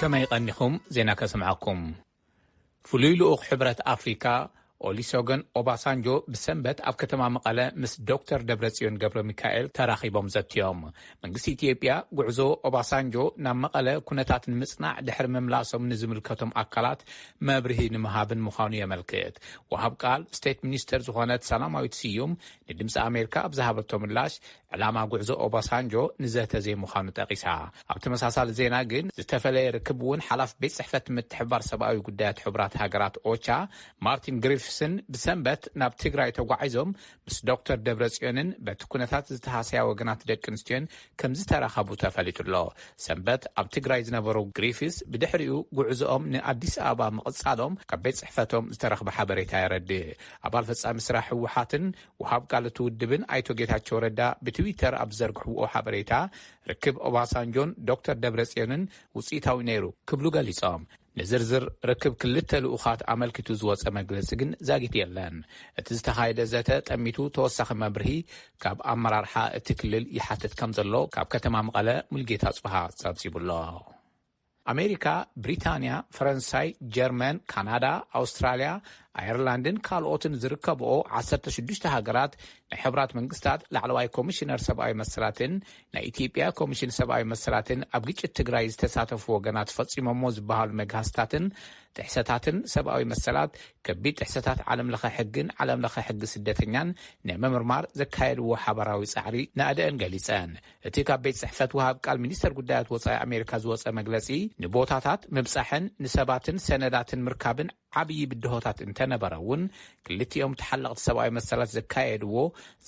ከመይ ቐኒኹም ዜና ከስምዓኩም ፍሉይ ልኡኽ ሕብረት ኣፍሪካ ኦሊሶገን ኦባሳንጆ ብሰንበት ኣብ ከተማ መቐለ ምስ ዶክተር ደብረጽዮን ገብረ ሚካኤል ተራኺቦም ዘትዮም መንግስቲ ኢትዮጵያ ጉዕዞ ኦባሳንጆ ናብ መቐለ ኩነታት ንምፅናዕ ድሕሪ ምምላሶም ንዝምልከቶም ኣካላት መብርሂ ንምሃብን ምዃኑ የመልክት። ወሃብ ቃል ስቴት ሚኒስተር ዝኾነት ሰላማዊት ስዩም ንድምፂ ኣሜሪካ ኣብ ዝሃበቶ ምላሽ ዕላማ ጉዕዞ ኦባሳንጆ ንዘተ ዘይምዃኑ ጠቒሳ። ኣብ ተመሳሳሊ ዜና ግን ዝተፈለየ ርክብ እውን ሓላፊ ቤት ፅሕፈት ምትሕብባር ሰብኣዊ ጉዳያት ሕቡራት ሃገራት ኦቻ ማርቲን ግሪፍስን ብሰንበት ናብ ትግራይ ተጓዒዞም ምስ ዶክተር ደብረጽዮንን በቲ ኩነታት ዝተሃሰያ ወገናት ደቂ ኣንስትዮን ከምዝተራኸቡ ተፈሊጡ'ሎ። ሰንበት ኣብ ትግራይ ዝነበሩ ግሪፊስ ብድሕሪኡ ጉዕዞኦም ንኣዲስ ኣበባ ምቕጻሎም ካብ ቤት ጽሕፈቶም ዝተረኽበ ሓበሬታ የረድእ። ኣባል ፈጻሚ ስራሕ ህወሓትን ወሃብ ቃል እቲ ውድብን ኣይቶ ጌታቸው ረዳ ብትዊተር ኣብ ዝዘርግሕዎ ሓበሬታ ርክብ ኦባሳንጆን ዶክተር ደብረጽዮንን ውጽኢታዊ ነይሩ ክብሉ ገሊጾም። ንዝርዝር ርክብ ክልተ ልኡኻት ኣመልኪቱ ዝወጸ መግለጺ ግን ዛጊት የለን። እቲ ዝተኻየደ ዘተ ጠሚቱ ተወሳኺ መብርሂ ካብ ኣመራርሓ እቲ ክልል ይሓትት ከምዘሎ ካብ ከተማ መቐለ ሙልጌታ ኣጽብሃ ጸብጺቡ'ሎ። ኣሜሪካ፣ ብሪታንያ፣ ፈረንሳይ፣ ጀርመን፣ ካናዳ፣ ኣውስትራልያ፣ ኣየርላንድን ካልኦትን ዝርከብኦ ዓሰርተ ሽዱሽተ ሃገራት ናይ ሕቡራት መንግስታት ላዕለዋይ ኮሚሽነር ሰብኣዊ መሰላትን ናይ ኢትዮጵያ ኮሚሽን ሰብኣዊ መሰላትን ኣብ ግጭት ትግራይ ዝተሳተፉ ወገናት ፈፂሞሞ ዝበሃሉ መግሃስታትን ጥሕሰታትን ሰብኣዊ መሰላት፣ ከቢድ ጥሕሰታት ዓለም ለኸ ሕግን ዓለም ለኸ ሕጊ ስደተኛን ንምምርማር ዘካየድዎ ሓባራዊ ፃዕሪ ናእደኣን ገሊፀን። እቲ ካብ ቤት ፅሕፈት ወሃብ ቃል ሚኒስተር ጉዳያት ወፃኢ ኣሜሪካ ዝወፀ መግለፂ ንቦታታት ምብፃሕን ንሰባትን ሰነዳትን ምርካብን ዓብዪ ብድሆታት እንተነበረ እውን ክልቲኦም ተሓለቕቲ ሰብኣዊ መሰላት ዘካየድዎ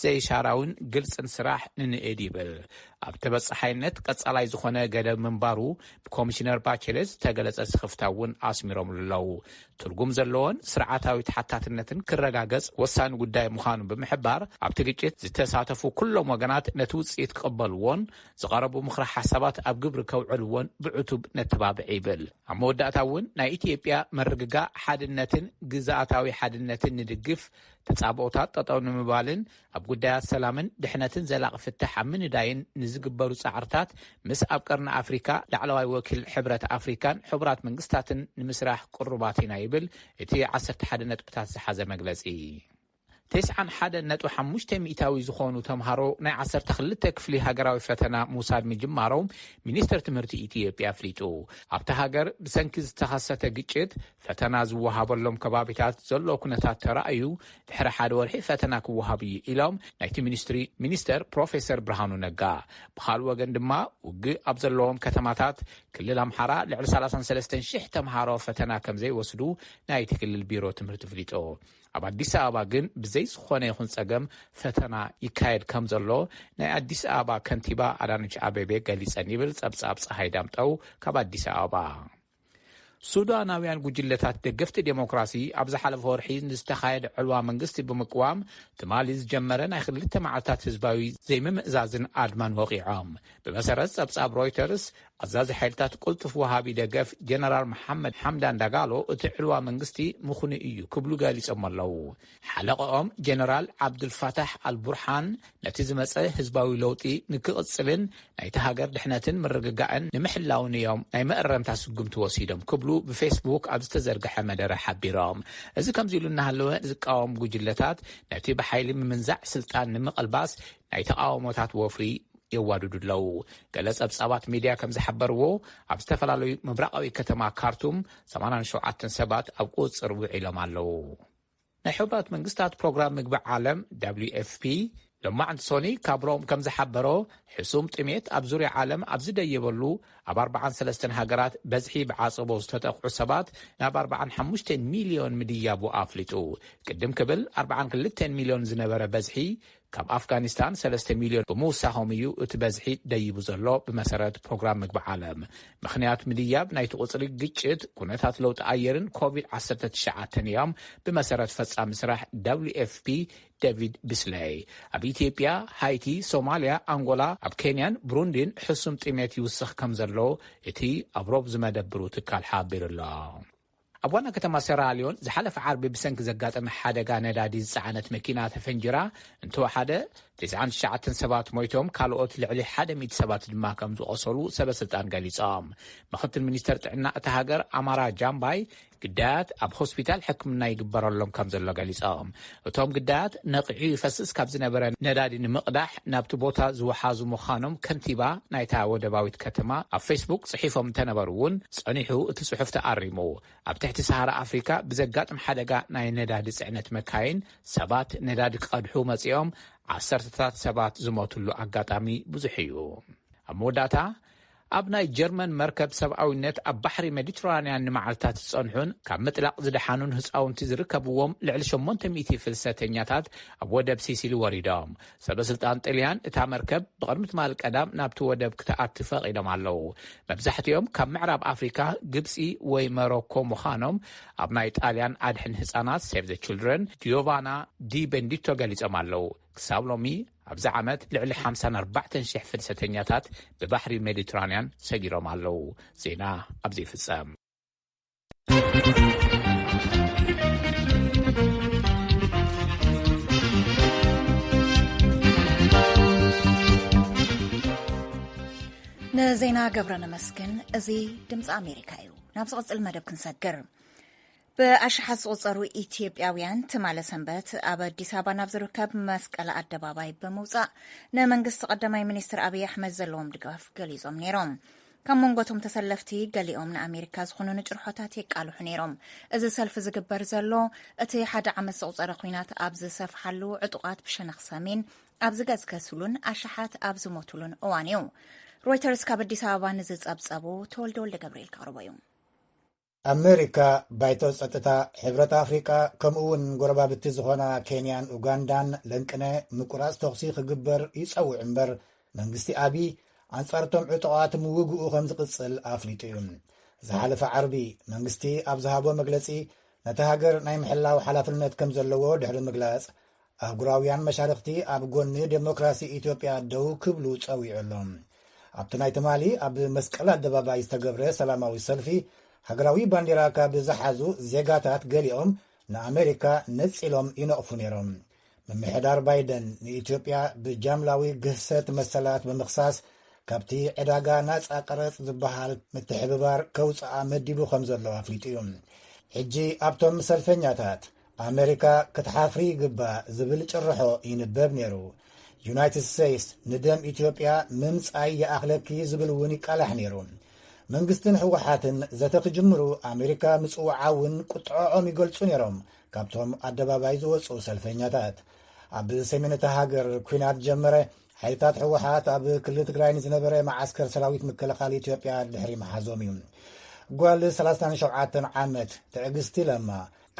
ዘይሻራዊን ግልፅን ስራሕ ንንእድ ይብል። ኣብ ተበፃሓይነት ቀፃላይ ዝኾነ ገደብ ምንባሩ ብኮሚሽነር ባቸሌት ዝተገለፀ ስኽፍታ እውን ኣስሚሮምሉ ኣለው። ትርጉም ዘለዎን ስርዓታዊ ተሓታትነትን ክረጋገፅ ወሳኒ ጉዳይ ምዃኑ ብምሕባር ኣብቲ ግጭት ዝተሳተፉ ኩሎም ወገናት ነቲ ውፅኢት ክቕበልዎን ዝቐረቡ ምኽረ ሓሳባት ኣብ ግብሪ ከውዕልዎን ብዕቱብ ነተባብዕ ይብል። ኣብ መወዳእታ እውን ናይ ኢትዮጵያ ምርግጋእ ሓድነትን ግዝኣታዊ ሓድነትን ንድግፍ፣ ተፃብኦታት ጠጠው ንምባልን ኣብ ጉዳያት ሰላምን ድሕነትን ዘላቒ ፍታሕ ኣብ ምንዳይን ንዝግበሩ ፃዕርታት ምስ ኣብ ቀርኒ ኣፍሪካ ላዕለዋይ ወኪል ሕብረት ኣፍሪካን ሕቡራት መንግስታትን ንምስራሕ ቅሩባት ኢና ይብል እቲ ዓሰርተ ሓደ ነጥብታት ዝሓዘ መግለፂ። ቴስዓን ሓደን ነጥቢ ሓሙሽተ ሚኢታዊ ዝኾኑ ተምሃሮ ናይ ዓሰርተ ክልተ ክፍሊ ሃገራዊ ፈተና ምውሳድ ምጅማሮም ሚኒስትር ትምህርቲ ኢትዮጵያ ኣፍሊጡ። ኣብታ ሃገር ብሰንኪ ዝተኸሰተ ግጭት ፈተና ዝወሃበሎም ከባቢታት ዘሎ ኩነታት ተራእዩ ድሕሪ ሓደ ወርሒ ፈተና ክወሃብ እዩ ኢሎም ናይቲ ሚኒስትሪ ሚኒስተር ፕሮፌሰር ብርሃኑ ነጋ። ብኻልእ ወገን ድማ ውግእ ኣብ ዘለዎም ከተማታት ክልል ኣምሓራ ልዕሊ ሰላሳን ሰለስተን ሽሕ ተምሃሮ ፈተና ከምዘይወስዱ ናይቲ ክልል ቢሮ ትምህርቲ ኣፍሊጡ። ኣብ ኣዲስ ኣበባ ግን ብዘይ ዝኾነ ይኹን ፀገም ፈተና ይካየድ ከም ዘሎ ናይ ኣዲስ ኣበባ ከንቲባ ኣዳነች ኣቤቤ ገሊፀን ይብል ፀብፃብ ፀሃይ ዳምጠው ካብ ኣዲስ ኣበባ። ሱዳናውያን ጉጅለታት ደገፍቲ ዴሞክራሲ ኣብ ዝሓለፈ ወርሒ ንዝተኻየደ ዕልዋ መንግስቲ ብምቅዋም ትማሊ ዝጀመረ ናይ ክልተ መዓልታት ህዝባዊ ዘይምምእዛዝን ኣድማን ወቒዖም። ብመሰረት ጸብጻብ ሮይተርስ ኣዛዚ ሓይልታት ቅልጡፍ ወሃቢ ደገፍ ጀነራል መሓመድ ሓምዳን ዳጋሎ እቲ ዕልዋ መንግስቲ ምኽኑይ እዩ ክብሉ ገሊጾሞ ኣለዉ። ሓለቐኦም ጀነራል ዓብዱልፋታሕ ኣልቡርሓን ነቲ ዝመጸ ህዝባዊ ለውጢ ንክቕጽልን ናይታ ሃገር ድሕነትን ምርግጋእን ንምሕላውን እዮም ናይ መእረምታ ስጉምቲ ወሲዶም ክብሉ ብፌስቡክ ኣብ ዝተዘርግሐ መደረ ሓቢሮም። እዚ ከምዚ ኢሉ እናሃለወ ዝቃወም ጉጅለታት ነቲ ብሓይሊ ምምንዛዕ ስልጣን ንምቕልባስ ናይ ተቓውሞታት ወፍሪ የዋድዱ ኣለዉ። ገለ ጸብጻባት ሚድያ ከም ዝሓበርዎ፣ ኣብ ዝተፈላለዩ ምብራቓዊ ከተማ ካርቱም ሰማንያን ሸውዓተን ሰባት ኣብ ቁጽጽር ውዒሎም ኣለዉ። ናይ ሕቡራት መንግስታት ፕሮግራም ምግቢ ዓለም፣ WFP፣ ሎማዕንቲ ሶኒ ካብ ሮም ከም ዝሓበሮ፣ ሕሱም ጥሜት ኣብ ዙርያ ዓለም ኣብ ዝደየበሉ ኣብ ኣርብዓን ሰለስተን ሃገራት በዝሒ ብዓጸቦ ዝተጠቕዑ ሰባት ናብ ኣርብዓን ሓሙሽተን ሚልዮን ምድያቡ ኣፍሊጡ። ቅድም ክብል ኣርብዓን ክልተን ሚልዮን ዝነበረ በዝሒ ካብ ኣፍጋኒስታን ሰለስተ ሚልዮን ብምውሳኾም እዩ እቲ በዝሒ ደይቡ ዘሎ ብመሰረት ፕሮግራም ምግቢ ዓለም። ምኽንያት ምድያብ ናይቲ ቁፅሪ ግጭት፣ ኩነታት ለውጢ ኣየርን ኮቪድ ዓሰርተ ትሽዓተን እዮም ብመሰረት ፈፃሚ ስራሕ ደብሊው ኤፍ ፒ ደቪድ ቢስለይ። ኣብ ኢትዮጵያ፣ ሃይቲ፣ ሶማሊያ፣ ኣንጎላ፣ ኣብ ኬንያን ብሩንዲን ሕሱም ጥሜት ይውስኽ ከምዘሎ እቲ ኣብ ሮብ ዝመደብሩ ትካል ሓቢሩ ኣሎ። ኣብ ዋና ከተማ ሰራልዮን ዝሓለፈ ዓርቢ ብሰንኪ ዘጋጠመ ሓደጋ ነዳዲ ዝጸዓነት መኪና ተፈንጂራ እንተወሓደ ትስዓን ትሽዓተን ሰባት ሞይቶም ካልኦት ልዕሊ ሓደ ሚእቲ ሰባት ድማ ከም ዝቖሰሉ ሰበስልጣን ገሊጾም። ምኽትል ሚኒስተር ጥዕና እታ ሃገር ኣማራ ጃምባይ ግዳያት ኣብ ሆስፒታል ሕክምና ይግበረሎም ከም ዘሎ ገሊጾም። እቶም ግዳያት ነቒዑ ይፈስስ ካብ ዝነበረ ነዳዲ ንምቕዳሕ ናብቲ ቦታ ዝወሓዙ ምዃኖም ከንቲባ ናይታ ወደባዊት ከተማ ኣብ ፌስቡክ ጽሒፎም እንተነበሩ እውን ጸኒሑ እቲ ጽሑፍ ተኣሪሙ። ኣብ ትሕቲ ሰሃራ ኣፍሪካ ብዘጋጥም ሓደጋ ናይ ነዳዲ ጽዕነት መካይን ሰባት ነዳዲ ክቐድሑ መጺኦም ዓሰርተታት ሰባት ዝሞትሉ ኣጋጣሚ ብዙሕ እዩ። ኣብ መወዳእታ ኣብ ናይ ጀርመን መርከብ ሰብኣዊነት ኣብ ባሕሪ ሜዲትራንያን ንመዓልታት ዝጸንሑን ካብ ምጥላቕ ዝደሓኑን ህጻውንቲ ዝርከብዎም ልዕሊ ሸሞንተ ሚእቲ ፍልሰተኛታት ኣብ ወደብ ሲሲሊ ወሪዶም። ሰበስልጣን ጥልያን እታ መርከብ ብቕድሚ ትማሊ ቀዳም ናብቲ ወደብ ክትኣቲ ፈቒዶም ኣለዉ። መብዛሕትኦም ካብ ምዕራብ ኣፍሪቃ፣ ግብጺ ወይ መሮኮ ምዃኖም ኣብ ናይ ጣልያን ኣድሕን ህጻናት፣ ሴቭ ዘ ችልድረን፣ ጂዮቫና ዲ ቤንዲቶ ገሊጾም ኣለዉ። ክሳብ ሎሚ ኣብዚ ዓመት ልዕሊ ሓምሳን ኣርባዕተን ሽሕ ፍልሰተኛታት ብባሕሪ ሜዲትራንያን ሰጊሮም ኣለዉ። ዜና ኣብዚ ይፍጸም። ንዜና ገብረ ነመስግን። እዚ ድምፂ ኣሜሪካ እዩ። ናብ ዝቕፅል መደብ ክንሰግር ብኣሽሓት ዝቑጸሩ ኢትዮጵያውያን ትማለ ሰንበት ኣብ ኣዲስ ኣበባ ናብ ዝርከብ መስቀል ኣደባባይ ብምውጻእ ንመንግስቲ ቀዳማይ ሚኒስትር ኣብዪ ኣሕመድ ዘለዎም ድጋፍ ገሊጾም ነይሮም። ካብ መንጎቶም ተሰለፍቲ ገሊኦም ንኣሜሪካ ዝኾኑ ንጭርሖታት የቃልሑ ነይሮም እዚ ሰልፊ ዝግበር ዘሎ እቲ ሓደ ዓመት ዝቑፀረ ኩናት ኣብ ዝሰፍሓሉ ዕጡቓት ብሸነኽ ሰሜን ኣብ ዝገዝከስሉን ኣሽሓት ኣብ ዝሞትሉን እዋን እዩ ሮይተርስ ካብ ኣዲስ ኣበባ ንዝፀብፀቡ ተወልደ ወልደ ገብርኤል ከቕርቦ እዩ ኣመሪካ፣ ባይቶ ጸጥታ ሕብረት ኣፍሪቃ ከምኡ'ውን ጎረባብቲ ዝኾና ኬንያን ኡጋንዳን ለንቅነ ምቁራጽ ተኹሲ ክግበር ይጸውዕ እምበር መንግስቲ ኣቢይ ኣንጻር'ቶም ዕጡቓት ምውግኡ ከም ዝቕጽል ኣፍሊጡ እዩ። ዝሓለፈ ዓርቢ መንግስቲ ኣብ ዝሃቦ መግለጺ ነታ ሃገር ናይ ምሕላው ሓላፍነት ከም ዘለዎ ድሕሪ ምግላጽ ኣህጉራውያን መሻርኽቲ ኣብ ጎኒ ደሞክራሲ ኢትዮጵያ ደው ክብሉ ጸዊዑ ኣሎ። ኣብቲ ናይ ትማሊ ኣብ መስቀል ኣደባባይ ዝተገብረ ሰላማዊ ሰልፊ፣ ሃገራዊ ባንዴራ ካብ ዝሓዙ ዜጋታት ገሊኦም ንኣመሪካ ነጺሎም ይነቕፉ ነይሮም። ምምሕዳር ባይደን ንኢትዮጵያ ብጃምላዊ ግህሰት መሰላት ብምኽሳስ ካብቲ ዕዳጋ ናጻ ቀረጽ ዝበሃል ምትሕብባር ከውጽኣ መዲቡ ከም ዘሎ ኣፍሊጡ እዩ። ሕጂ ኣብቶም ሰልፈኛታት ኣመሪካ ክትሓፍሪ ይግባእ ዝብል ጭርሖ ይንበብ ነይሩ። ዩናይትድ ስቴትስ ንደም ኢትዮጵያ ምምጻይ ይኣኽለኪ ዝብል እውን ይቃላሕ ነይሩ። መንግስትን ህወሓትን ዘተ ክጅምሩ ኣሜሪካ ምጽውዓ እውን ቁጥዖዖም ይገልጹ ነይሮም ካብቶም ኣደባባይ ዝወፁ ሰልፈኛታት። ኣብ ሰሜን እታ ሃገር ኩናት ጀመረ። ሓይልታት ህወሓት ኣብ ክልል ትግራይ ንዝነበረ መዓስከር ሰራዊት ምክልኻል ኢትዮጵያ ድሕሪ መሓዞም እዩ። ጓል 37 ዓመት ትዕግስቲ ለማ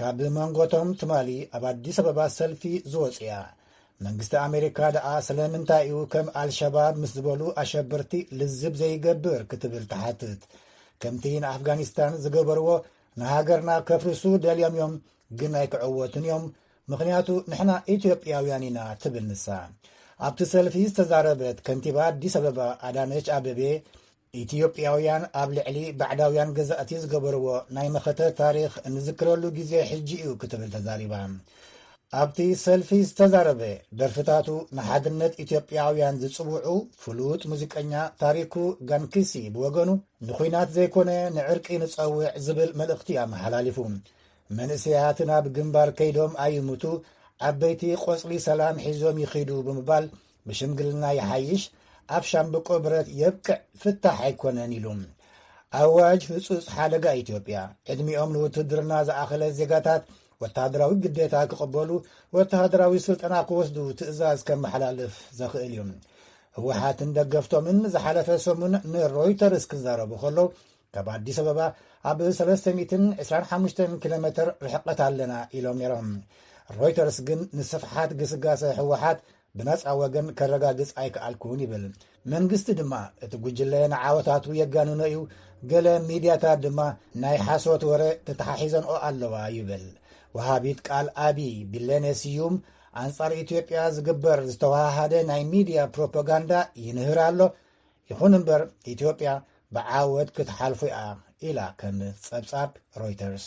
ካብ መንጎቶም ትማሊ ኣብ ኣዲስ ኣበባ ሰልፊ ዝወፅያ መንግስቲ ኣሜሪካ ደኣ ስለምንታይ እዩ ከም ኣልሸባብ ምስ ዝበሉ ኣሸበርቲ ልዝብ ዘይገብር ክትብል ትሓትት ከምቲ ንኣፍጋኒስታን ዝገበርዎ ንሃገርና ከፍርሱ ደልዮም እዮም ግን ኣይክዕወቱን እዮም ምኽንያቱ ንሕና ኢትዮጵያውያን ኢና ትብል ንሳ ኣብቲ ሰልፊ ዝተዛረበት ከንቲባ ኣዲስ ኣበባ ኣዳነች ኣበቤ ኢትዮጵያውያን ኣብ ልዕሊ ባዕዳውያን ገዛእቲ ዝገበርዎ ናይ መኸተ ታሪኽ እንዝክረሉ ግዜ ሕጂ እዩ ክትብል ተዛሪባ። ኣብቲ ሰልፊ ዝተዛረበ ደርፍታቱ ንሓድነት ኢትዮጵያውያን ዝጽውዑ ፍሉጥ ሙዚቀኛ ታሪኩ ጋንኪሲ ብወገኑ ንኹናት ዘይኮነ ንዕርቂ ንጸውዕ ዝብል መልእኽቲ ኣመሓላሊፉ። መንእሰያት ናብ ግንባር ከይዶም ኣይሙቱ ዓበይቲ ቆጽሊ ሰላም ሒዞም ይኺዱ ብምባል ብሽምግልና ይሓይሽ ኣብ ሻምብቆ ብረት የብቅዕ ፍታሕ ኣይኮነን ኢሉ። ኣዋጅ ህፁፅ ሓደጋ ኢትዮጵያ ዕድሚኦም ንውትድርና ዝኣኸለ ዜጋታት ወተሃደራዊ ግዴታ ክቕበሉ ወተሃደራዊ ስልጠና ክወስዱ ትእዛዝ ከመሓላልፍ ዘኽእል እዩ። ህወሓትን ደገፍቶምን ዝሓለፈ ሰሙን ንሮይተርስ ክዛረቡ ከሎ ካብ ኣዲስ ኣበባ ኣብ 325 ኪሎ ሜትር ርሕቀት ኣለና ኢሎም ነይሮም። ሮይተርስ ግን ንስፍሓት ግስጋሰ ህወሓት ብነጻ ወገን ከረጋግጽ ኣይከኣልኩን ይብል። መንግስቲ ድማ እቲ ጉጅለ ንዓወታቱ የጋንኖ እዩ፣ ገለ ሚድያታት ድማ ናይ ሓሶት ወረ ተተሓሒዘንኦ ኣለዋ ይብል። ወሃቢት ቃል ኣቢ ቢሌኔ ስዩም ኣንጻር ኢትዮጵያ ዝግበር ዝተዋሃሃደ ናይ ሚድያ ፕሮፓጋንዳ ይንህር ኣሎ፣ ይኹን እምበር ኢትዮጵያ ብዓወት ክትሓልፎ እያ ኢላ ከም ጸብጻብ ሮይተርስ።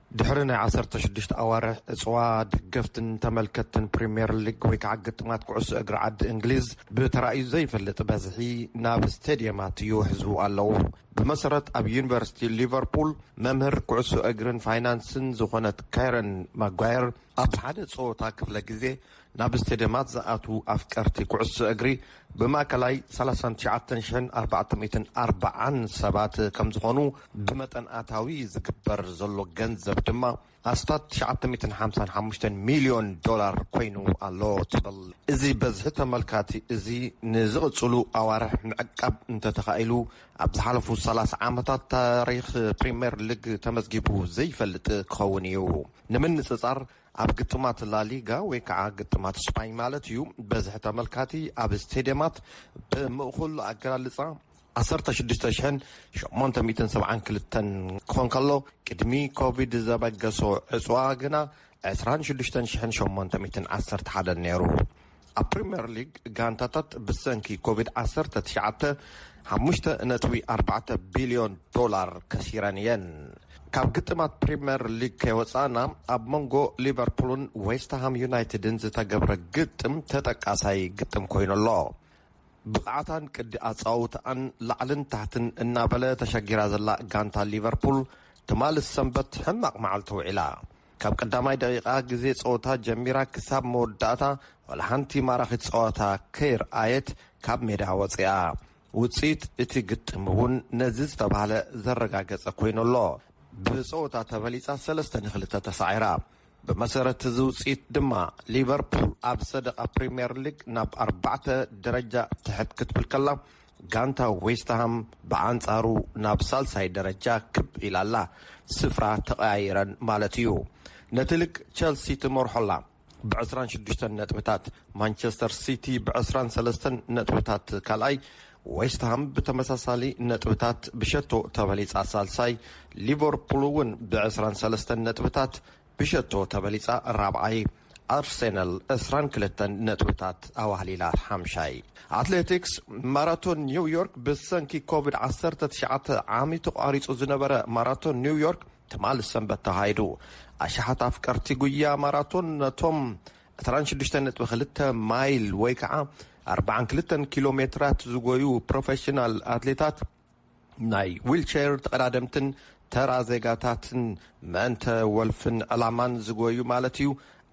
ድሕሪ ናይ ዓሰርተ ሽዱሽተ ኣዋርሕ ዕጽዋ፣ ደገፍትን ተመልከትትን ፕሪምየር ሊግ ወይ ከዓ ግጥማት ኩዕሶ እግሪ ዓዲ እንግሊዝ ብተራእዩ ዘይፈልጥ በዝሒ ናብ ስቴድየማት ይውሕዙ ኣለዉ። ብመሰረት ኣብ ዩኒቨርሲቲ ሊቨርፑል መምህር ኩዕሶ እግሪን ፋይናንስን ዝኾነት ካረን ማጓየር ኣብ ሓደ ፀወታ ክፍለ ግዜ ናብ ስቴድየማት ዝኣትዉ ኣፍቀርቲ ኩዕሶ እግሪ ብማእከላይ ሰላሳን ትሽዓተን ሽሕን ኣርባዕተ ሚእትን ኣርባዓን ሰባት ከም ዝኾኑ ብመጠን ኣታዊ ዝግበር ዘሎ ገንዘብ ድማ ኣስታት ትሽዓተ ሚእትን ሓምሳን ሓሙሽተን ሚልዮን ዶላር ኮይኑ ኣሎ ትብል። እዚ በዝሒ ተመልካቲ እዚ ንዝቕጽሉ ኣዋርሕ ምዕቃብ እንተተኻኢሉ ኣብ ዝሓለፉ ሰላሳ ዓመታት ታሪኽ ፕሪምየር ሊግ ተመዝጊቡ ዘይፈልጥ ክኸውን እዩ። ንምንጽጻር ኣብ ግጥማት ላሊጋ ወይ ከዓ ግጥማት ስፓኝ ማለት እዩ በዝሒ ተመልካቲ ኣብ ስቴድየማት ብምእኹል ኣገላልፃ ዓሰርተ ሽዱሽተ ሽሕን ሸሞንተ ሚእትን ሰብዓን ክልተን ክኾን ከሎ ቅድሚ ኮቪድ ዘበገሶ ዕፅዋ ግና ዕስራን ሽዱሽተን ሽሕን ሸሞንተ ሚእትን ዓሰርተ ሓደን ነይሩ። ኣብ ፕሪምየር ሊግ ጋንታታት ብሰንኪ ኮቪድ ዓሰርተ ትሽዓተ ሓሙሽተ ነጥቢ ኣርባዕተ ቢልዮን ዶላር ከሲረን እየን። ካብ ግጥማት ፕሪምየር ሊግ ከይወፃእና ኣብ መንጎ ሊቨርፑልን ዌስትሃም ዩናይትድን ዝተገብረ ግጥም ተጠቃሳይ ግጥም ኮይኑ ኣሎ። ብቕዓታን ቅዲ ኣፀዋውትኣን ላዕልን ታሕትን እናበለ ተሸጊራ ዘላ ጋንታ ሊቨርፑል ትማል ሰንበት ሕማቕ መዓልቲ ውዒላ። ካብ ቀዳማይ ደቂቃ ግዜ ጸወታ ጀሚራ ክሳብ መወዳእታ ዋላ ሓንቲ ማራኺት ጸወታ ከይርኣየት ካብ ሜዳ ወጺኣ። ውጽኢት እቲ ግጥም እውን ነዚ ዝተባህለ ዘረጋገጸ ኮይኑ ኣሎ። ብጸወታ ተበሊጻ ሰለስተ ን ክልተ ተሳዒራ። ብመሰረት እዚ ውጽኢት ድማ ሊቨርፑል ኣብ ሰደቓ ፕሪምየር ሊግ ናብ ኣርባዕተ ደረጃ ትሕት ክትብል ከላ ጋንታ ዌስትሃም ብኣንጻሩ ናብ ሳልሳይ ደረጃ ክብ ኢላ ኣላ፣ ስፍራ ተቐያይረን ማለት እዩ። ነቲ ልግ ቸልሲ ትመርሖ ኣላ ብዕስራን ሽዱሽተን ነጥብታት፣ ማንቸስተር ሲቲ ብዕስራን ሰለስተን ነጥብታት ካልኣይ፣ ዌስትሃም ብተመሳሳሊ ነጥብታት ብሸቶ ተበሊጻ ሳልሳይ፣ ሊቨርፑል'ውን ብዕስራን ሰለስተን ነጥብታት ብሸቶ ተበሊጻ ራብዓይ፣ ኣርሰናል ዕስራን ክልተን ነጥብታት ኣዋህሊላ ሓምሻይ። ኣትሌቲክስ፣ ማራቶን ኒው ዮርክ ብሰንኪ ኮቪድ ዓሰርተ ትሽዓተ ዓሚ ተቋሪጹ ዝነበረ ማራቶን ኒው ዮርክ ትማል ሰንበት ተኻይዱ። ኣሽሓት ኣፍቀርቲ ጉያ ማራቶን ነቶም ዕስራን ሽዱሽተን ነጥቢ ክልተ ማይል ወይ ከዓ ኣርብዓን ክልተን ኪሎ ሜትራት ዝጎዩ ፕሮፌሽናል ኣትሌታት ናይ ዊልቸር ተቐዳደምትን ተራ ዜጋታትን መእንተ ወልፍን ዕላማን ዝጎዩ ማለት እዩ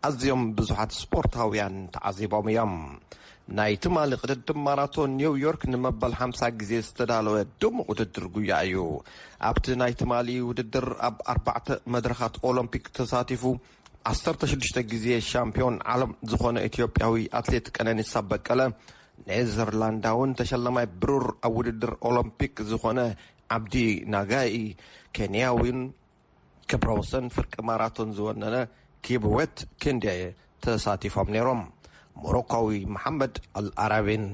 ኣዝዮም ብዙሓት ስፖርታውያን ተዓዚቦም እዮም። ናይ ትማሊ ቅድድም ማራቶን ኒው ዮርክ ንመበል ሓምሳ ግዜ ዝተዳለወ ድሙቕ ውድድር ጉያ እዩ። ኣብቲ ናይ ትማሊ ውድድር ኣብ ኣርባዕተ መድረኻት ኦሎምፒክ ተሳቲፉ ዓሰርተ ሽዱሽተ ግዜ ሻምፕዮን ዓለም ዝኾነ ኢትዮጵያዊ ኣትሌት ቀነኒሳ በቀለ፣ ኔዘርላንዳውን ተሸላማይ ብሩር ኣብ ውድድር ኦሎምፒክ ዝኾነ ዓብዲ ናጋይ፣ ኬንያዊን ክብረ ወሰን ፍርቂ ማራቶን ዝወነነ ኪብዌት ኪንዴ ተሳቲፎም ነይሮም። ሞሮኳዊ መሓመድ ኣልኣራቢን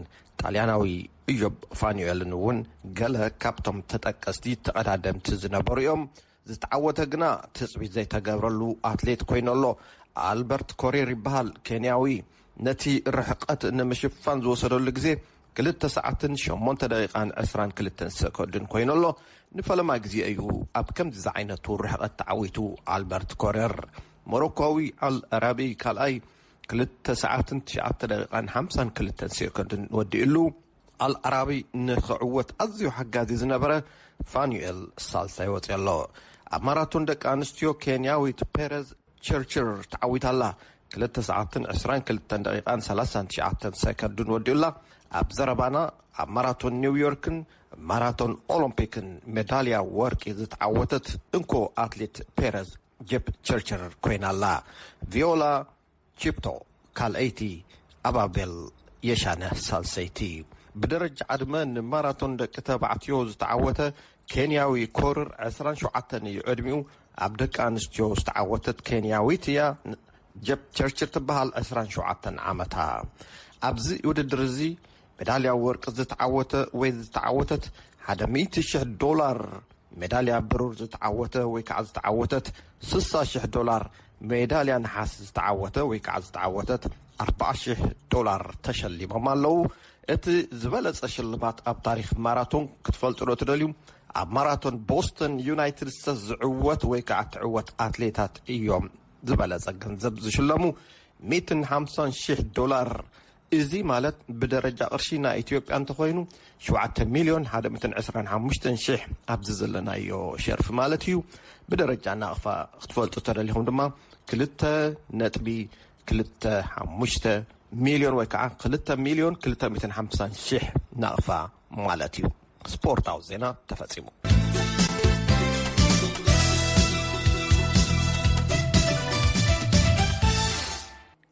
ጣልያናዊ እዮብ ፋኑኤልን እውን ገለ ካብቶም ተጠቀስቲ ተቐዳደምቲ ዝነበሩ እዮም። ዝተዓወተ ግና ትጽቢት ዘይተገብረሉ ኣትሌት ኰይኑ ኣሎ። ኣልበርት ኮሪር ይበሃል፣ ኬንያዊ። ነቲ ርሕቀት ንምሽፋን ዝወሰደሉ ግዜ ክልተ ሰዓትን ሸሞንተ ደቒቓን ዕስራን ክልተን ሰኮንድን ኰይኑ ኣሎ። ንፈለማ ግዜ እዩ ኣብ ከምዚ ዝዓይነቱ ርሕቀት ተዓዊቱ ኣልበርት ኮሪር። ሞሮኮዊ ኣል ኣራቢ ካልኣይ ክልተ ሰዓትን ትሽዓተ ደቒቓን ሓምሳን ክልተን ሰኮንድን ወዲኡሉ። ኣልኣራቢ ንኽዕወት ኣዝዩ ሓጋዚ ዝነበረ ፋኑኤል ሳልሳይ ወጺኡ ኣሎ። ኣብ ማራቶን ደቂ ኣንስትዮ ኬንያዊት ፔረዝ ቸርችር ተዓዊታ ኣላ። ክልተ ሰዓትን ዕስራን ክልተን ደቂቓን ሰላሳን ትሽዓተን ሰከንድን ወዲኡላ። ኣብ ዘረባና ኣብ ማራቶን ኒውዮርክን ማራቶን ኦሎምፒክን ሜዳልያ ወርቂ ዝተዓወተት እንኮ ኣትሌት ፔረዝ ጀፕ ቸርችር ኮይና ኣላ። ቪዮላ ቺፕቶ ካልኣይቲ፣ ኣባቤል የሻነህ ሳልሰይቲ። ብደረጃ ዕድመ ንማራቶን ደቂ ተባዕትዮ ዝተዓወተ ኬንያዊ ኮርር ዕስራን ሸውዓተን እዩ ዕድሚኡ፣ ኣብ ደቂ ኣንስትዮ ዝተዓወተት ኬንያዊት እያ ጀፕቸርችር ትበሃል ዕስራን ሸውዓተን ዓመታ። ኣብዚ ውድድር እዚ መዳልያ ወርቂ ዝተዓወተ ወይ ዝተዓወተት ሓደ ሚእቲ ሽሕ ዶላር፣ መዳልያ ብሩር ዝተዓወተ ወይ ከዓ ዝተዓወተት ስሳ ሽሕ ዶላር፣ ሜዳልያ ነሓስ ዝተዓወተ ወይ ከዓ ዝተዓወተት ኣርብዓ ሽሕ ዶላር ተሸሊሞም ኣለው። እቲ ዝበለፀ ሽልማት ኣብ ታሪክ ማራቶን ክትፈልጡ ዶ ትደልዩ? ኣብ ማራቶን ቦስተን ዩናይትድ ስተትስ ዝዕወት ወይ ከዓ እትዕወት ኣትሌታት እዮም ዝበለፀ ገንዘብ ዝሽለሙ ሚእትን ሓምሳን ሽሕ ዶላር እዚ ማለት ብደረጃ ቅርሺ ናይ ኢትዮጵያ እንተኾይኑ ሽውዓተ ሚልዮን ሓደ ምእትን ዕስራን ሓሙሽተን ሽሕ ኣብዚ ዘለናዮ ሸርፊ ማለት እዩ። ብደረጃ ናቕፋ ክትፈልጡ ተደሊኹም ድማ ክልተ ነጥቢ ክልተ ሓሙሽተ ሚልዮን ወይ ከዓ ክልተ ሚልዮን ክልተ ምእትን ሓምሳን ሽሕ ናቕፋ ማለት እዩ። ስፖርታዊ ዜና ተፈጺሙ።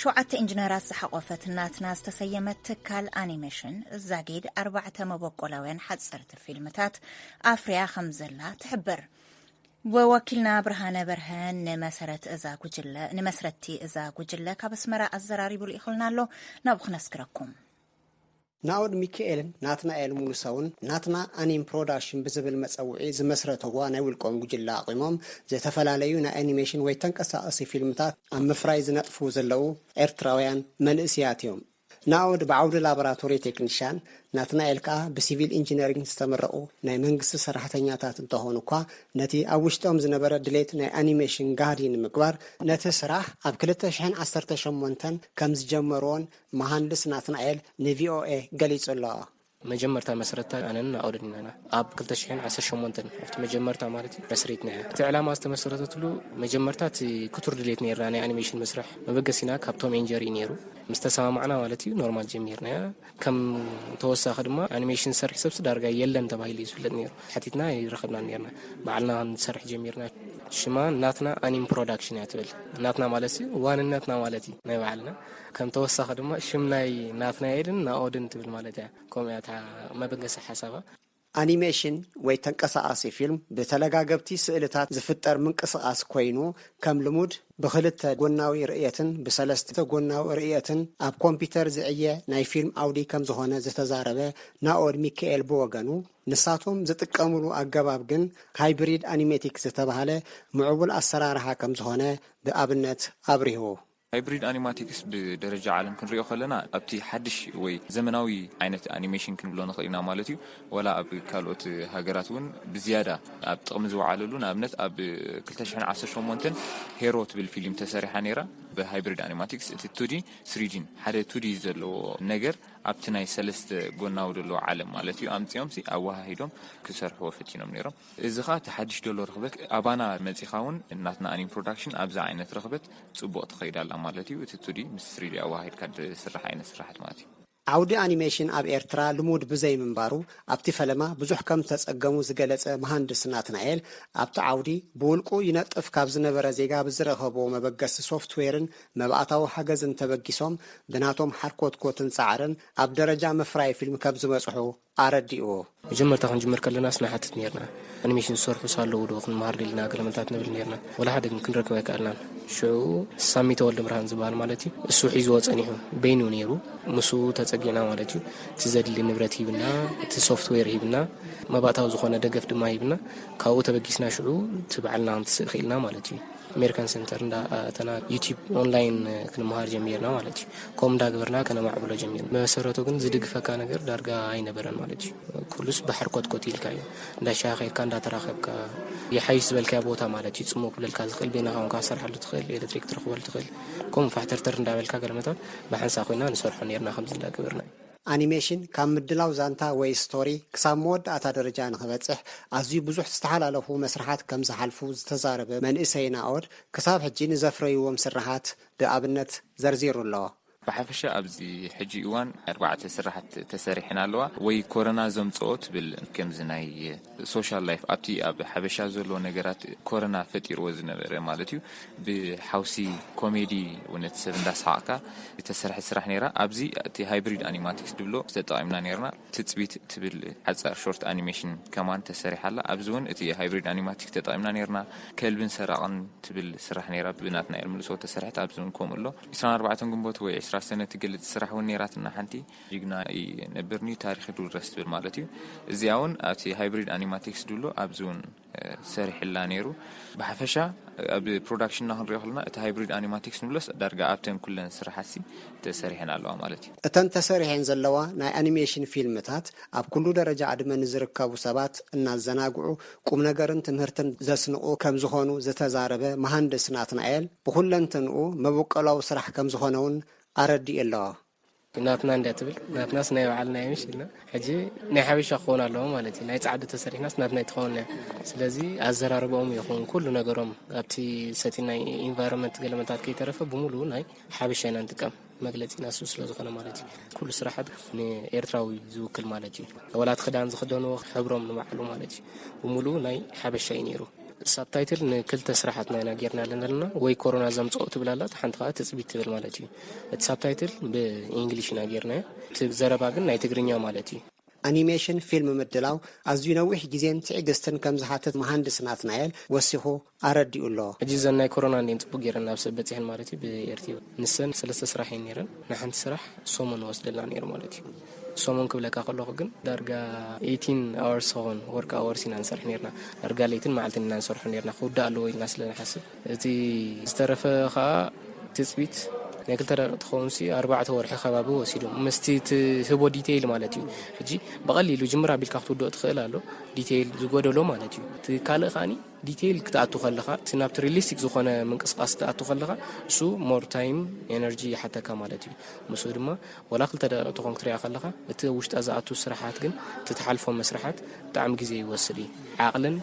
ሸውዓተ ኢንጅነራት ዝሓቖፈት ናትና ዝተሰየመት ትካል ኣኒሜሽን ዛጊድ ኣርባዕተ መበቆላውያን ሓፀርቲ ፊልምታት ኣፍርያ ከም ዘላ ትሕብር። ወኪልና ብርሃነ በርሀ ንመሰረት እዛ ጉጅለ ንመስረቲ እዛ ጉጅለ ካብ ኣስመራ ኣዘራሪቡ ልኢኹልና ኣሎ ናብኡ ክነስግረኩም ናኦድ ሚኪኤልን ናትናኤል ሙሉሰውን ናትና ኣኒም ፕሮዳሽን ብዝብል መጸውዒ ዝመስረተዋ ናይ ውልቆም ጉጅለ ኣቚሞም ዝተፈላለዩ ናይ ኣኒሜሽን ወይ ተንቀሳቐሲ ፊልምታት ኣብ ምፍራይ ዝነጥፉ ዘለዉ ኤርትራውያን መንእሲያት እዮም። ናኦድ ብዓውዲ ላቦራቶሪ ቴክኒሻን፣ ናትናኤል ከኣ ብሲቪል ኢንጂነሪንግ ዝተመረቑ ናይ መንግስቲ ሰራሕተኛታት እንተኾኑ እኳ ነቲ ኣብ ውሽጦም ዝነበረ ድሌት ናይ ኣኒሜሽን ጋህዲ ንምግባር ነቲ ስራሕ ኣብ ክልተ ሽሕን ዓሰርተ ሸሞንተን ከምዝጀመርዎን መሃንድስ ናትናኤል ንቪኦኤ ገሊጹ'ሎ። መጀመርታ መስረትታ ኣነን ናኦድን ኢና ኢና ኣብ ክልተ ሽሕን ዓሰርተ ሸሞንተን ኣብቲ መጀመርታ ማለት እዩ መስሪትና ኢና እቲ ዕላማ ዝተመሰረተትሉ መጀመርታ እቲ ክቱር ድሌት ነይርና ናይ ኣኒሜሽን ምስራሕ መበገሲና ካብ ቶም ኤን ጀሪ ነይሩ ምስ ተሰማማዕና ማለት እዩ ኖርማል ጀሚርናያ ከም ተወሳኺ ድማ ኣኒሜሽን ዝሰርሕ ሰብሲ ዳርጋ የለን ተባሂሉ እዩ ዝፍለጥ ነይሩ ሓቲትና ኣይረኸብናን ነርና ባዕልና ክንሰርሕ ጀሚርና ሽማ ናትና ኣኒም ፕሮዳክሽን እያ ትብል ናትና ማለት እዩ ዋንነትና ማለት እዩ ናይ ባዕልና ከም ተወሳኺ ድማ ሽም ናይ ናትናኤልን ናኦድን ትብል ማለት እያ ከምኡ እያ እታ መበገሲ ሓሳባ። ኣኒሜሽን ወይ ተንቀሳቓሲ ፊልም ብተለጋገብቲ ስእልታት ዝፍጠር ምንቅስቓስ ኮይኑ ከም ልሙድ ብኽልተ ጎናዊ ርእየትን ብሰለስተ ጎናዊ ርእየትን ኣብ ኮምፒተር ዝዕየ ናይ ፊልም ዓውዲ ከም ዝኾነ ዝተዛረበ ናኦድ ሚካኤል ብወገኑ ንሳቶም ዝጥቀምሉ ኣገባብ ግን ሃይብሪድ ኣኒሜቲክ ዝተባህለ ምዕቡል ኣሰራርሓ ከም ዝኾነ ብኣብነት ኣብሪሁ። ሃይብሪድ ኣኒማቲክስ ብደረጃ ዓለም ክንሪኦ ከለና ኣብቲ ሓድሽ ወይ ዘመናዊ ዓይነት ኣኒሜሽን ክንብሎ ንኽእል ኢና ማለት እዩ። ዋላ ኣብ ካልኦት ሃገራት እውን ብዝያዳ ኣብ ጥቕሚ ዝወዓለሉ ንኣብነት ኣብ ክልተ ሽሕን ዓሰርተ ሸሞንተን ሄሮ ትብል ፊሊም ተሰሪሓ ነይራ ብሃይብሪድ ኣኒማቲክስ እቲ ቱዲን ስሪዲን ሓደ ቱዲ ዘለዎ ነገር ኣብቲ ናይ ሰለስተ ጎናዊ ደሎ ዓለም ማለት እዩ ኣምጺኦምሲ ኣወሃሂዶም ክሰርሕዎ ፈቲኖም ነይሮም እዚ ኸኣ እቲ ሓድሽ ደሎ ርኽበት ኣባና መጺኻ እውን ናትና ኣኒም ፕሮዳክሽን ኣብዚ ዓይነት ርኽበት ጽቡቕ ትኸይድ ኣላ ማለት እዩ። እቲ ቱዲ ምስ ስሪዲ ኣወሃሂድካ ዝስራሕ ዓይነት ስርሓት ማለት እዩ። ዓውዲ ኣኒሜሽን ኣብ ኤርትራ ልሙድ ብዘይምንባሩ ኣብቲ ፈለማ ብዙሕ ከም ዝተጸገሙ ዝገለጸ መሃንድስ ናትናኤል፣ ኣብቲ ዓውዲ ብውልቁ ይነጥፍ ካብ ዝነበረ ዜጋ ብዝረኸብዎ መበገሲ ሶፍትዌርን መባእታዊ ሓገዝን ተበጊሶም ብናቶም ሓርኮትኮትን ጻዕርን ኣብ ደረጃ ምፍራይ ፊልም ከም ዝበጽሑ ኣረዲእዎ። መጀመርታ ክንጅምር ከለናስ ንሓትት ኔርና፣ ኣኒሜሽን ዝሰርሑ ሳለዉ ዶ ክንመሃር ደሊና ገለ መልታት ንብል ኔርና። ወላ ሓደ ግን ክንረክብ ኣይከኣልናን። ሽዑ ሳሚ ተወልደብርሃን ዝበሃል ማለት እዩ፣ እሱ ሒዝዎ ጸኒሑ፣ በይኑ እዩ ኔሩ፣ ምስኡ ተጸጊዕና ማለት እዩ። እቲ ዘድሊ ንብረት ሂብና፣ እቲ ሶፍትዌር ሂብና፣ መባእታዊ ዝኾነ ደገፍ ድማ ሂብና፣ ካብኡ ተበጊስና ሽዑ እቲ ባዕልና ክንትስእ ክኢልና ማለት እዩ። ኣሜሪካን ሰንተር እንዳ ኣተና ዩቲብ ኦንላይን ክንመሃር ጀሚርና ማለት እዩ ከምኡ እንዳግበርና ከነማዕብሎ ጀሚርና መሰረቱ ግን ዝድግፈካ ነገር ዳርጋ ኣይነበረን ማለት እዩ ኩሉስ ባሕር ኮትኮት ኢልካ እዩ እንዳሻኸድካ እንዳተራኸብካ ይሓይሽ ዝበልካዮ ቦታ ማለት እዩ ፅሙ ክብለልካ ዝኽእል ቤናኻ ውን ካሰርሓሉ ትኽእል ኤሌክትሪክ ትረኽበሉ ትኽእል ከምኡ ፋሕተርተር እንዳበልካ ገለመታት ብሓንሳ ኮይና ንሰርሖ ነርና ከምዚ እንዳገበርና እዩ ኣኒሜሽን ካብ ምድላው ዛንታ ወይ ስቶሪ ክሳብ መወዳእታ ደረጃ ንኽበጽሕ ኣዝዩ ብዙሕ ዝተሓላለኹ መስርሓት ከም ዝሓልፉ ዝተዛረበ መንእሰይ ናኦድ፣ ክሳብ ሕጂ ንዘፍረዩዎም ስርሓት ብኣብነት ዘርዚሩ ኣሎ። ብሓፈሻ ኣብዚ ሕጂ እዋን ኣርባዕተ ስርሓት ተሰሪሐን ኣለዋ፣ ወይ ኮረና ዘምጽኦ ትብል ከምዚ ናይ ሶሻል ላይፍ ኣብቲ ኣብ ሓበሻ ዘሎ ነገራት ኮረና ፈጢርዎ ዝነበረ ማለት እዩ ብሓውሲ ኮሜዲ ውነት ሰብ እንዳሰሓቕካ ዝተሰርሐ ስራሕ ነይራ ኣብዚ እቲ ሃይብሪድ ኣኒማቲክስ ድብሎ ተጠቒምና ነርና ትፅቢት ትብል ሓፃር ሾርት ኣኒሜሽን ከማን ተሰሪሓላ ኣብዚ እውን እቲ ሃይብሪድ ኣኒማቲክስ ተጠቒምና ነርና ከልብን ሰራቕን ትብል ስራሕ ነይራ ብናትናኤል ምልሶ ተሰርሐት ኣብዚ እውን ከምኡ ኣሎ 24 ግንቦት ወይ 20 ሰነ ትገልፅ ስራሕ እውን ነይራትና ሓንቲ ጅግና እዪ ነብርኒ ታሪኪ ዱሉ ደስ ትብል ማለት እዩ እዚኣ ውን ኣብቲ ሃይብሪድ ኣኒማቲክስ ዱሉ ኣብዚ ውን ሰሪሕላ ነይሩ ብሓፈሻ ኣብ ፕሮዳክሽንና ክንሪኦ ከለና እቲ ሃይብሪድ ኣኒማቲክስ ንብሎስ ዳርጋ ኣብተን ኩለን ስራሓትሲ ተሰሪሐን ኣለዋ ማለት እዩ። እተን ተሰሪሐን ዘለዋ ናይ ኣኒሜሽን ፊልምታት ኣብ ኩሉ ደረጃ ዕድመ ንዝርከቡ ሰባት እናዘናግዑ ቁምነገርን ትምህርትን ዘስንቑ ከምዝኾኑ ዝተዛረበ መሃንድስ ናትናኤል ብኹለንትንኡ መበቆላዊ ስራሕ ከምዝኾነ ውን ኣረዲኡ ኣሎ። ናትና እንድያ ትብል ናትናስ ናይ ባዓልና እዩ ምሽ ኢልና ሕጂ ናይ ሓበሻ ክኾን ኣለዎ ማለት እዩ ናይ ጻዕዱ ተሰሪሕናስ ናትና ይትኸውን እያ ስለዚ ኣዘራርባኦም ይኹን ኩሉ ነገሮም ኣብቲ ሰቲ ናይ ኢንቫይሮንመንት ገለመታት ከይተረፈ ብምሉኡ ናይ ሓበሻ ኢና ንጥቀም መግለጺ ናሱ ስለ ዝኾነ ማለት እዩ ኩሉ ስራሓት ንኤርትራዊ ዝውክል ማለት እዩ ወላት ክዳን ዝኽደንዎ ሕብሮም ንባዕሉ ማለት እዩ ብምሉኡ ናይ ሓበሻ እዩ ነይሩ ሳብታይትል ንክልተ ስራሓትና ኢና ጌርናለን ዘለና ወይ ኮሮና ዘምፀኦ ትብል ኣላ እቲ ሓንቲ ከዓ ትፅቢት ትብል ማለት እዩ እቲ ሳብታይትል ብእንግሊሽ ኢና ጌርናዮ እቲ ዘረባ ግን ናይ ትግርኛ ማለት እዩ ኣኒሜሽን ፊልም ምድላው ኣዝዩ ነዊሕ ግዜን ትዕግስትን ከም ዝሓትት መሃንድስ ናትናኤል ወሲኹ ኣረዲኡ ኣሎ። ሕጂ እዘን ናይ ኮሮና እንድየን ጽቡቕ ገይረን ናብ ሰብ በጺሐን ማለት እዩ ብኤርትዩ ንሰን ሰለስተ ስራሕ እየን ነይረን ንሓንቲ ስራሕ ሰሙን ይወስደልና ነይሩ ማለት እዩ። ሰሙን ክብለካ ከለኹ ግን ዳርጋ ኤይቲን ኣወርስ ዝኸውን ወርክ ኣወርስ ኢና ንሰርሕ ነርና። ዳርጋ ለይትን መዓልትን ኢና ንሰርሖ ነርና ክውዳእ ኣለዎ ኢልና ስለ ንሓስብ። እቲ ዝተረፈ ከኣ ትጽቢት ናይ ክልተ ደቂ ትኸውንሲ ኣርባዕተ ወርሒ ከባቢ ወሲዱ ምስቲ ትህቦ ዲቴይል ማለት እዩ ሕጂ ብቐሊሉ ጅምር ኣቢልካ ክትውድኦ ትኽእል ኣሎ ዲቴይል ዝጎደሎ ማለት እዩ እቲ ካልእ ከዓኒ ዲተይል ክትኣቱ ከለኻ እቲ ናብቲ ሪሊስቲክ ዝኾነ ምንቅስቃስ ክትኣቱ ከለኻ እሱ ሞር ታይም ኤነርጂ ይሓተካ ማለት እዩ ምስኡ ድማ ወላ ክልተ ደቂቅ ተኾን ክትሪኣ ከለኻ እቲ ኣብ ውሽጣ ዝኣቱ ስራሓት ግን እቲ ትሓልፎ መስርሓት ብጣዕሚ ግዜ ይወስድ እዩ ዓቅልን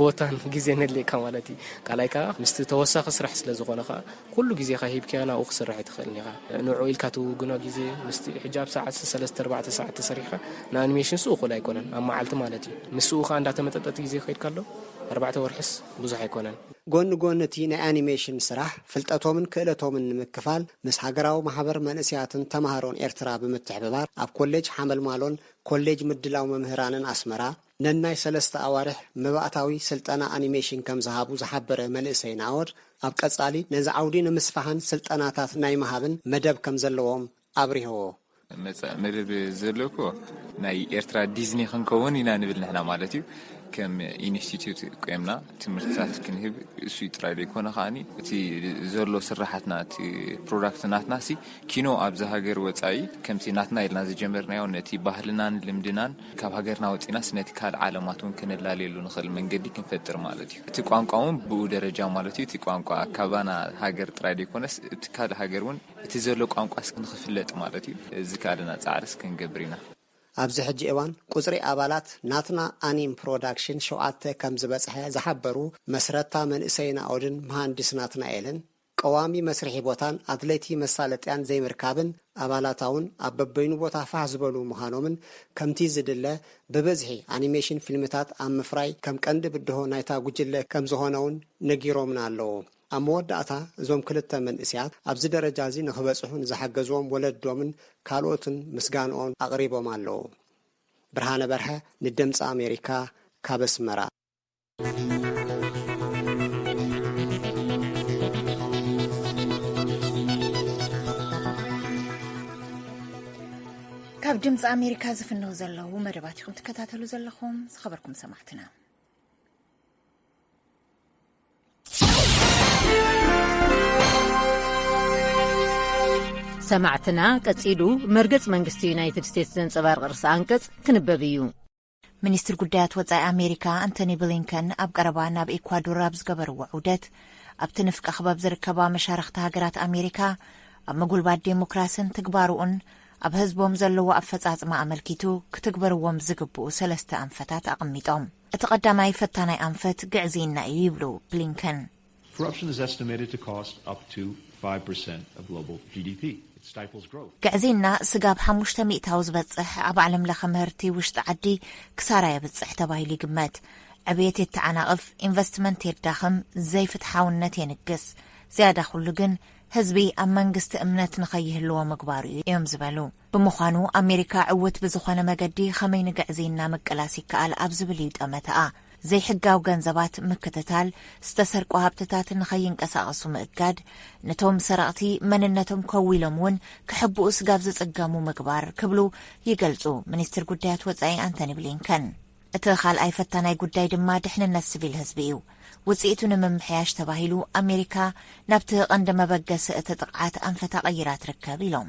ቦታን ግዜን የድልየካ ማለት እዩ ካልኣይ ከዓ ምስቲ ተወሳኺ ስራሕ ስለ ዝኾነ ከዓ ኩሉ ግዜኻ ሂብካዮ ናብኡ ክትስርሕ ኣይትኽእልን ኢኻ። ንዕኡ ኢልካ ትውግኖ ግዜ፣ ምስቲ ሕጂ ኣብ ሰዓት ሰለስተ ኣርባዕተ ሰዓት ተሰሪሕካ ንኣኒሜሽንሱ እኹል ኣይኮነን፣ ኣብ መዓልቲ ማለት እዩ። ምስኡ ከኣ እንዳተመጠጠ እቲ ግዜ ከይድካሉ ኣርባዕተ ወርሕስ ብዙሕ ኣይኮነን። ጎኒ ጎኒ እቲ ናይ ኣኒሜሽን ስራሕ፣ ፍልጠቶምን ክእለቶምን ንምክፋል ምስ ሃገራዊ ማሕበር መንእሰያትን ተማሃሮን ኤርትራ ብምትሕብባር ኣብ ኮሌጅ ሓመልማሎን ኮሌጅ ምድላው መምህራንን ኣስመራ፣ ነናይ ሰለስተ ኣዋርሕ መባእታዊ ስልጠና ኣኒሜሽን ከም ዝሃቡ ዝሓበረ መንእሰይ ናኦድ፣ ኣብ ቀጻሊ ነዚ ዓውዲ ንምስፋሕን ስልጠናታት ናይ ምሃብን መደብ ከም ዘለዎም ኣብሪሆዎ። መጻኢ መደብ ዘሎ እኮ ናይ ኤርትራ ዲዝኒ ክንከውን ኢና ንብል ንሕና ማለት እዩ። ከም ኢንስቲትዩት ቈይምና ትምህርትታት ክንህብ እሱይ ጥራይ ዘይኮነ ከኣ እቲ ዘሎ ስርሓትና እቲ ፕሮዳክት ናትናሲ ኪኖ ኣብዚ ሃገር ወጻኢ ከምቲ ናትና ኢልና ዝጀመርናዮ ነቲ ባህልናን ልምድናን ካብ ሃገርና ወጺእናስ ነቲ ካልእ ዓለማት እውን ከነላልየሉ ንኽእል መንገዲ ክንፈጥር ማለት እዩ። እቲ ቋንቋ እውን ብኡ ደረጃ ማለት እዩ። እቲ ቋንቋ ካባና ሃገር ጥራይ ደይኮነስ እቲ ካልእ ሃገር እውን እቲ ዘሎ ቋንቋስ ንኽፍለጥ ማለት እዩ ዝከኣለና ጻዕርስ ክንገብር ኢና። ኣብዚ ሕጂ እዋን ቁጽሪ ኣባላት ናትና ኣኒም ፕሮዳክሽን ሸውዓተ ከምዝበጽሐ ዝሓበሩ መስረታ መንእሰይ ናኦድን መሃንድስ ናትናኤልን፣ ቀዋሚ መስርሒ ቦታን ኣድለይቲ መሳለጥያን ዘይምርካብን ኣባላታውን ኣብ በበይኑ ቦታ ፋሕ ዝበሉ ምዃኖምን ከምቲ ዝድለ ብብዝሒ ኣኒሜሽን ፊልምታት ኣብ ምፍራይ ከም ቀንዲ ብድሆ ናይታ ጉጅለ ከም ዝኾነውን ነጊሮምና ኣለዉ። ኣብ መወዳእታ እዞም ክልተ መንእሰያት ኣብዚ ደረጃ እዚ ንኽበጽሑ ንዝሓገዝዎም ወለዶምን ካልኦትን ምስጋንኦም ኣቕሪቦም ኣለዉ። ብርሃነ በርሀ ንድምጺ ኣሜሪካ ካብ ኣስመራ። ካብ ድምፂ ኣሜሪካ ዝፍነው ዘለዉ መደባት ኢኹም ትከታተሉ ዘለኹም ዝኸበርኩም ሰማዕትና ሰማዕትና ቀጺሉ መርገጽ መንግስቲ ዩናይትድ ስቴትስ ዘንጸባርቕ ርእሲ ኣንቀጽ ክንበብ እዩ ሚኒስትር ጉዳያት ወጻኢ ኣሜሪካ ኣንቶኒ ብሊንከን ኣብ ቀረባ ናብ ኤኳዶር ኣብ ዝገበርዎ ዑደት ኣብቲ ንፍቀ ክበብ ዝርከባ መሻርኽቲ ሃገራት ኣሜሪካ ኣብ ምጉልባት ዴሞክራስን ትግባርኡን ኣብ ህዝቦም ዘለዎ ኣፈጻጽማ ኣመልኪቱ ክትግበርዎም ዝግብኡ ሰለስተ ኣንፈታት ኣቐሚጦም። እቲ ቀዳማይ ፈታናይ ኣንፈት ግዕዝይና እዩ ይብሉ ብሊንከን። ግዕዝይና ስጋብ ሓሙሽተ ሚእታዊ ዝበጽሕ ኣብ ዓለምለኸ ምህርቲ ውሽጢ ዓዲ ክሳራ የብጽሕ ተባሂሉ ይግመት። ዕብየት የተዓናቕፍ፣ ኢንቨስትመንት የዳኽም፣ ዘይፍትሓውነት የንግስ። ዝያዳ ኩሉ ግን ህዝቢ ኣብ መንግስቲ እምነት ንኸይህልዎ ምግባሩ'ዩ እዮም ዝበሉ። ብምዃኑ ኣሜሪካ ዕውት ብዝኾነ መገዲ ኸመይ ንግዕዝይና ምቅላስ ይከኣል ኣብ ዝብል እዩ ጠመተኣ። ዘይሕጋዊ ገንዘባት ምክትታል፣ ዝተሰርቁ ሃብትታት ንኸይንቀሳቐሱ ምእጋድ፣ ንቶም ሰረቕቲ መንነቶም ከዊሎም እውን ክሕብኡ ስጋብ ዝፅገሙ ምግባር ክብሉ ይገልፁ ሚኒስትር ጉዳያት ወፃኢ ኣንተኒ ብሊንከን። እቲ ኻልኣይ ፈታናይ ጉዳይ ድማ ድሕንነት ስቪል ህዝቢ እዩ። ውፅኢቱ ንምምሕያሽ ተባሂሉ ኣሜሪካ ናብቲ ቐንዲ መበገሲ እቲ ጥቕዓት ኣንፈታ ቐይራ ትርከብ ኢሎም።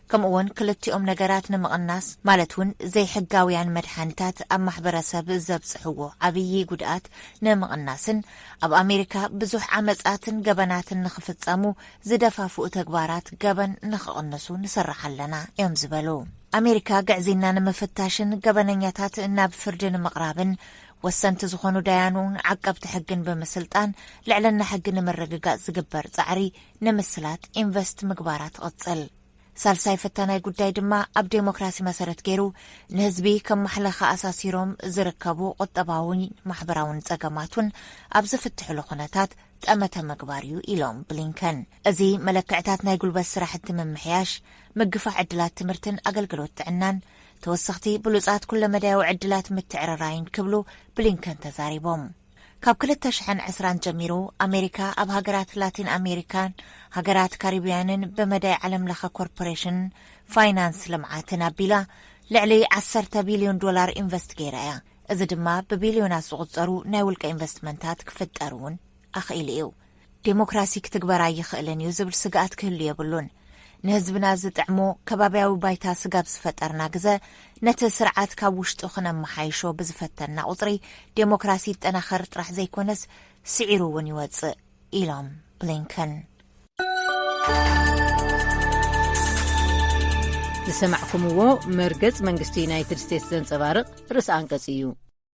ከምኡ'ውን ክልቲኦም ነገራት ንምቕናስ ማለት እውን ዘይሕጋውያን መድሓኒታት ኣብ ማሕበረሰብ ዘብፅሕዎ ዓብዪ ጉድኣት ንምቕናስን ኣብ ኣሜሪካ ብዙሕ ዓመፃትን ገበናትን ንኽፍፀሙ ዝደፋፍኡ ተግባራት ገበን ንኽቕንሱ ንስራሕ ኣለና እዮም ዝበሉ። ኣሜሪካ ግዕዝይና ንምፍታሽን ገበነኛታት ናብ ፍርዲ ንምቕራብን ወሰንቲ ዝኾኑ ዳያኑን ዓቀብቲ ሕግን ብምስልጣን ልዕልና ሕጊ ንምርግጋፅ ዝግበር ፃዕሪ ንምስላት ኢንቨስት ምግባራ ትቕጽል። ሳልሳይ ፈታናይ ጉዳይ ድማ ኣብ ዴሞክራሲ መሰረት ገይሩ ንህዝቢ ከም ማሕለኸ ኣሳሲሮም ዝርከቡ ቁጠባውን ማሕበራውን ጸገማት እውን ኣብ ዝፍትሕሉ ኩነታት ጠመተ ምግባር እዩ ኢሎም ብሊንከን። እዚ መለክዕታት ናይ ጉልበት ስራሕቲ ምምሕያሽ፣ ምግፋዕ ዕድላት ትምህርትን ኣገልግሎት ጥዕናን፣ ተወሰኽቲ ብሉጻት ኩለመዳያዊ ዕድላት ምትዕርራይን ክብሉ ብሊንከን ተዛሪቦም። ካብ ክልተ ሽሕን ዕስራን ጀሚሩ ኣሜሪካ ኣብ ሃገራት ላቲን ኣሜሪካን ሃገራት ካሪብያንን ብመዳይ ዓለም ለኸ ኮርፖሬሽን ፋይናንስ ልምዓትን ኣቢላ ልዕሊ ዓሰርተ ቢልዮን ዶላር ኢንቨስት ገይራ እያ። እዚ ድማ ብቢልዮናት ዝቑፀሩ ናይ ውልቀ ኢንቨስትመንታት ክፍጠር እውን ኣኽኢሉ እዩ። ዴሞክራሲ ክትግበር ኣይኽእልን እዩ ዝብል ስግኣት ክህሉ የብሉን። ንህዝብና ዝጥዕሞ ከባብያዊ ባይታ ስጋብ ዝፈጠርና ግዘ ነቲ ስርዓት ካብ ውሽጡ ክነመሓይሾ ብዝፈተንና ቁፅሪ ዴሞክራሲ ይጠናኸር ጥራሕ ዘይኮነስ ስዒሩ እውን ይወፅእ ኢሎም ብሊንከን። ዝሰማዕኩምዎ መርገጽ መንግስቲ ዩናይትድ ስቴትስ ዘንጸባርቕ ርእሲ ኣንቀጽ እዩ።